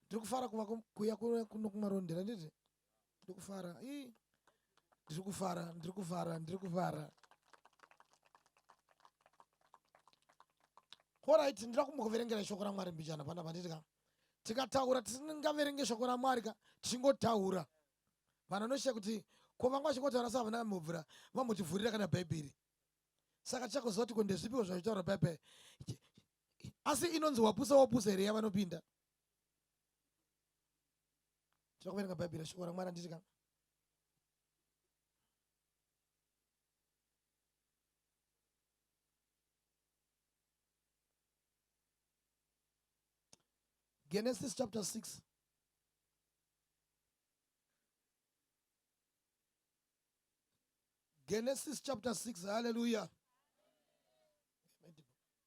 ndiri kufara kuva kuya kuno kumarondera nditi ndiri kufara i ndiri kufara ndiri kufara ndiri kufara orit ndira kumbokuverengera shoko ramwari mbijana pana panditi ka tikataura tisingaverenge shoko ramwari ka tichingotaura vanhu vanoshiya kuti ko vanga vachingotaura sa vana mubvura vambotivhurira kana bhaibheri saka tichakuziva kuti ko ndezvipiwo zvazvitaura bhaibheri asi inonzi wapusa wapusa here yavanopinda tinoda kuverenga bhaibheri shoko ramwari anditi ka genesis chapter 6 Genesis chapter 6. Hallelujah.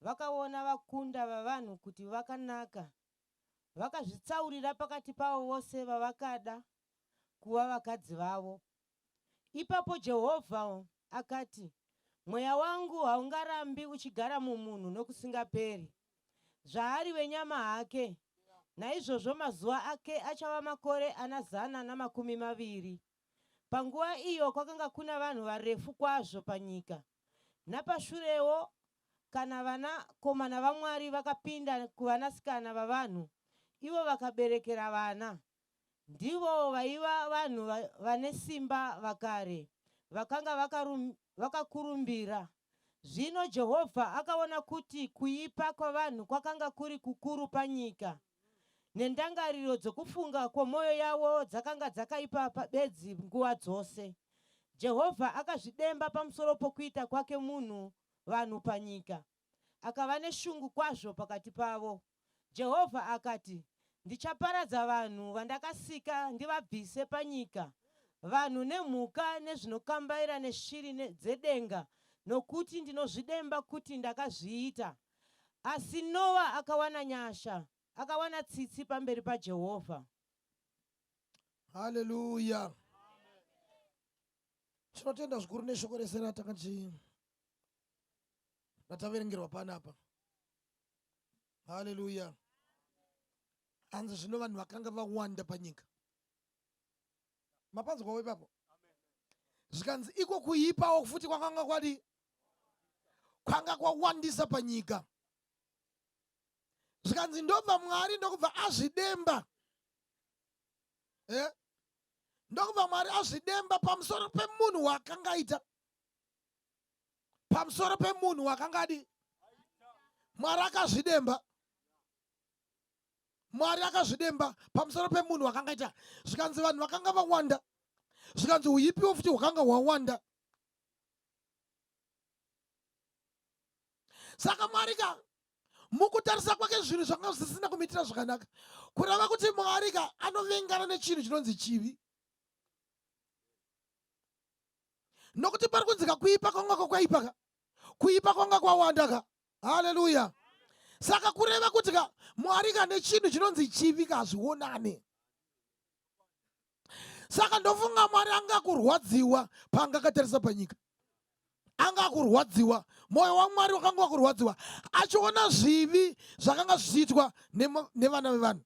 vakaona vakunda vavanhu kuti vakanaka, vakazvitsaurira pakati pavo vose vavakada kuva vakadzi vavo. Ipapo Jehovha akati, Mweya wangu haungarambi uchigara mumunhu nokusingaperi. Zvaari wenyama hake, naizvozvo mazuva ake achava makore ana zana namakumi maviri. Panguva iyo kwakanga kuna vanhu varefu kwazvo panyika. Napashurewo, kana vanakomana vaMwari vakapinda kuvanasikana vavanhu, ivo vakaberekera vana. Ndivo vaiva vanhu vane simba vakare, vakanga vakakurumbira. Zvino Jehovha akaona kuti kuipa kwavanhu kwakanga kuri kukuru panyika, nendangariro dzokufunga kwomwoyo yavo dzakanga dzakaipa bedzi nguva dzose. Jehovha akazvidemba pamusoro pokuita kwake munhu vanhu panyika. Akava neshungu kwazvo pakati pavo. Jehovha akati, Ndichaparadza vanhu vandakasika ndivabvise panyika, vanhu nemhuka nezvinokambaira neshiri dzedenga, nokuti ndinozvidemba kuti ndakazviita. Asi Noa akawana nyasha, akawana tsitsi pamberi paJehovha. Haleluya! Tinotenda zvikuru neshoko rese ratanga tichi rataverengerwa panapa haleluya hanzi zvino vanhu vakanga vawanda panyika mapanzwawo ipapo zvikanzi iko kuipawo futi kwakanga kwadi kwanga kwawandisa panyika zvikanzi ndobva mwari ndokubva azvidemba eh? ndokubva mwari azvidemba pamusoro pemunhu waakangaita pamusoro pemunhu wakangadi mwari akazvidemba mwari akazvidemba pamusoro pemunhu wakangaita zvikanzi vanhu vakanga vawanda zvikanzi uipiwo futi hwakanga hwawanda saka mwari ka mukutarisa kwake zvinhu zvanga zvisina kumitira zvakanaka kureva kuti mwari ka anovengana nechinhu chinonzi chivi nokuti pari kunzika kuipa kwanga kwakaipa ka kuipa kwanga kwawanda ka haleluya saka kureva kuti ka mwari ka nechinhu chinonzi chivi ka hazvionane saka ndofunga mwari anga kurwadziwa paanga akatarisa panyika anga akurwadziwa mwoyo wamwari wakanga wakurwadziwa achiona zvivi zvakanga zvichiitwa nevana vevanhu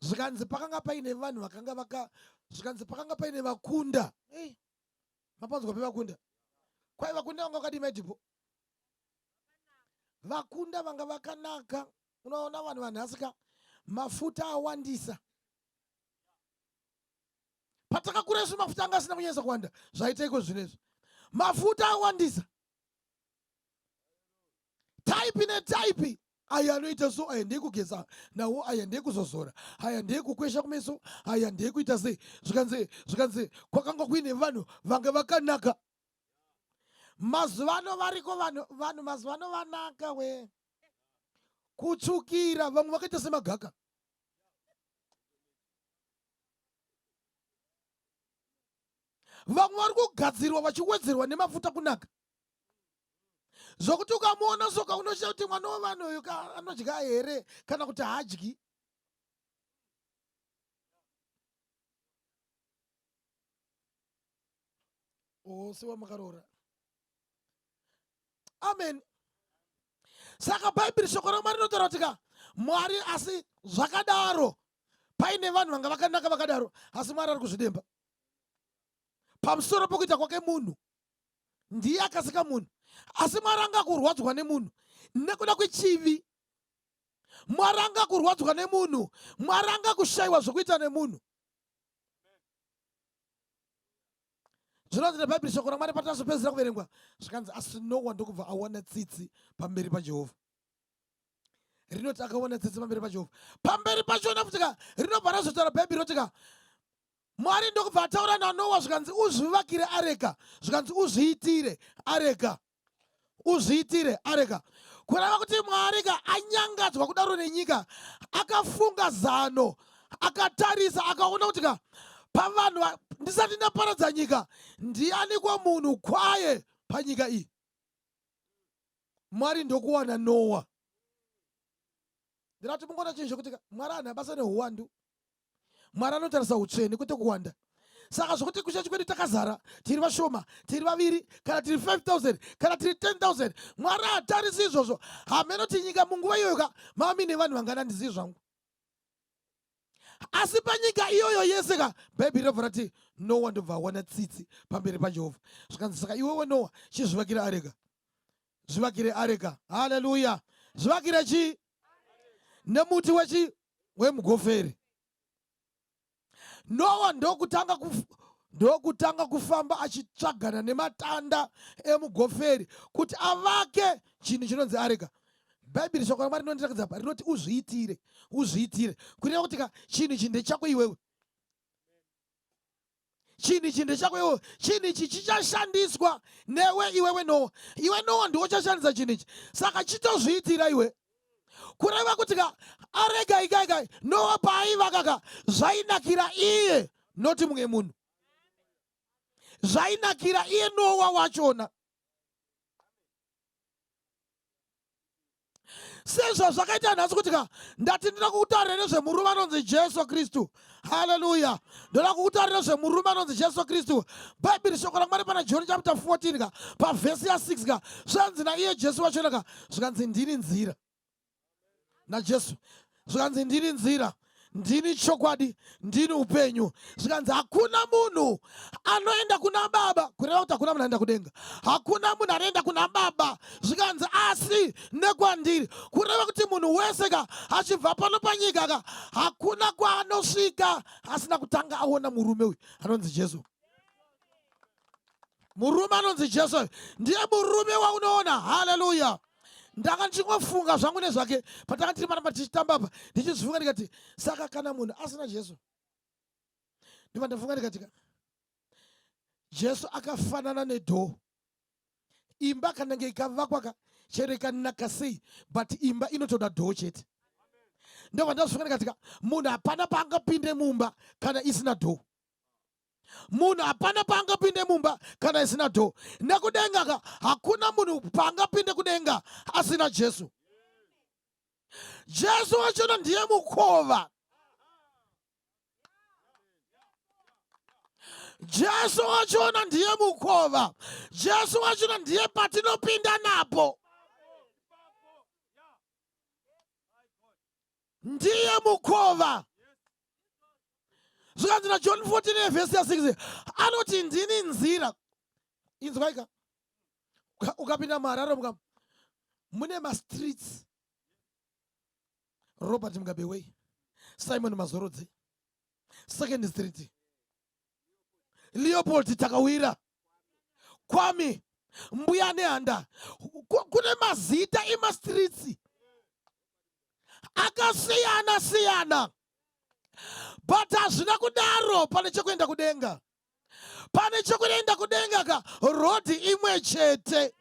zvikanzi pakanga paine vanhu vakanga vaka zvikanzi pakanga paine vakunda hey, mapanzwa pevakunda kwai vakunda vanga vakadii maidhipo vakunda vanga vakanaka unoona vanhu vanhasika mafuta awandisa patakakura isu mafuta anga asina kunyanyisa kuwanda zvaitaiko zvino izvo mafuta awandisa type netype aya anoita so aya ndekugeza nawo aya ndekuzozora aya ndekukwesha kumeso aya ndekuita sei zvikanzi zvikanzi kwakanga kuine vanhu vange vakanaka mazuvano variko vanhu vanhu mazuvano vanaka we kutsvukira vamwe vakaita semagaka vamwe vari kugadzirwa vachiwedzerwa nemafuta kunaka zvokuti ukamuona soka unoshaya kuti mwana wevanhu uyu anodya here kana kuti haadyi wose wamakaroora amen saka bhaibheri shoko ramwari rinotaura kuti ka mwari asi zvakadaro paine vanhu vanga vakanaka vakadaro asi mwari ari kuzvidemba pamusoro pokuita kwake munhu ndiye akasika munhu asi mwari angakurwadzwa nemunhu nekuda kwechivi mwari angakurwadzwa nemunhu mwari angakushayiwa zvekuita nemunhu zvinonzi nebhaibheri shoko ramwari patazopedzera kuverengwa zvikanzi asi nowa ndokubva awana tsitsi pamberi pajehovha rinoti akaona tsitsi pamberi pajehovha pamberi pachona futika rinobva razotaura bhaibheri rotika Mwari ndokubva ataura naNoa zvikanzi uzvivakire areka, zvikanzi uzviitire areka, uzviitire areka. Kureva kuti Mwari ka anyangadzwa kudaro nenyika, akafunga zano, akatarisa, akaona kuti ka pavanhu ndisati ndaparadza nyika, ndianiko munhu kwaye panyika iyi? Mwari ndokuwana Noa. Ndinati mungoona chinhu chekuti Mwari anhu abasa nehuwandu mwari anotarisa utsvene kwete kuwanda saka zvokuti kuchechi kwedu takazara tiri vashoma tiri vaviri kana tiri 5000 kana tiri 10000 mwari haatarisi izvozvo hameno tinyika munguva iyoyoka mami nevanhu vangana ndizivi zvangu asi panyika iyoyo yese ka bhaibheri rabva rati noa ndobva awana tsitsi pamberi pajehovha zvikanzi saka iwewe noa chizvivakire areka zvivakire areka haleluya zvivakire chii nemuti wechi wemugoferi nowa ndokutanga kuf, ndokutanga kufamba achitsvagana nematanda emugoferi kuti avake chinhu chinonzi areka bhaibheri shoko ramwari rinondirakidza pa rinoti uzviitire uzviitire kureva kuti ka chinhu ichi ndechako iwewe chinhu ichi ndechako iwe chinhu ichi chichashandiswa newe iwewe noa iwe noa ndiwo chashandisa chinhu ichi saka chitozviitira iwe kureva kuti ka arega ikaikai noa paaivaka ka zvainakira iye noti mumwe munhu zvainakira iye noa wachona sezvazvakaita nhasi kuti ka ndati ndinoda kukutarira nezvemurume anonzi jesu kristu haleluya ndoda kukutarira zvemurume anonzi jesu kristu bhaibheri shoko ramwari pana john chapta 14 ka pavhesi ya 6 ka zvanzi naiye jesu vachona ka zvikanzi ndini nzira najesu zvikanzi ndiri nzira ndini chokwadi ndini upenyu zvikanzi hakuna munhu anoenda kuna baba kureva kuti hakuna munhu anoenda kudenga hakuna munhu anoenda kuna baba zvikanzi asi nekwandiri kureva kuti munhu wese ka achibva pano panyika ka hakuna kwaanosvika asina kutanga aona murume uyu anonzi jesu murume anonzi jesu ndiye murume waunoona haleluya ndanga ndichingofunga zvangu nezvake patanga tiri maramba tichitamba apa ndichizifunga ndikati saka kana munhu asina jesu ndiva ndafunga ndikati jesu akafanana nedhoo imba kana nge ikavakwaka chero ikanaka sei but imba inotoda dhoo chete ndovandazofunga ndikatika munhu hapana paangapinde mumba kana isina dhoo munhu hapana paangapinde mumba kana isina dho nekudenga ka hakuna munhu paangapinde kudenga asina jesu jesu wachona ndiye mukova jesu wachona ndiye mukova jesu wachona ndiye patinopinda napo ndiye mukova zvikanzi najohn 14 vhesi ya 6 anoti ndini nzira inzwaika ukapinda muharare muka mune mastreets robert mugabeway simon mazorodze second street leopold takawira kwami mbuya nehanda kune mazita emastritsi akasiyana siyana but hazvina kudaro pane chekuenda kudenga pane chekuenda kudenga ka rodhi imwe chete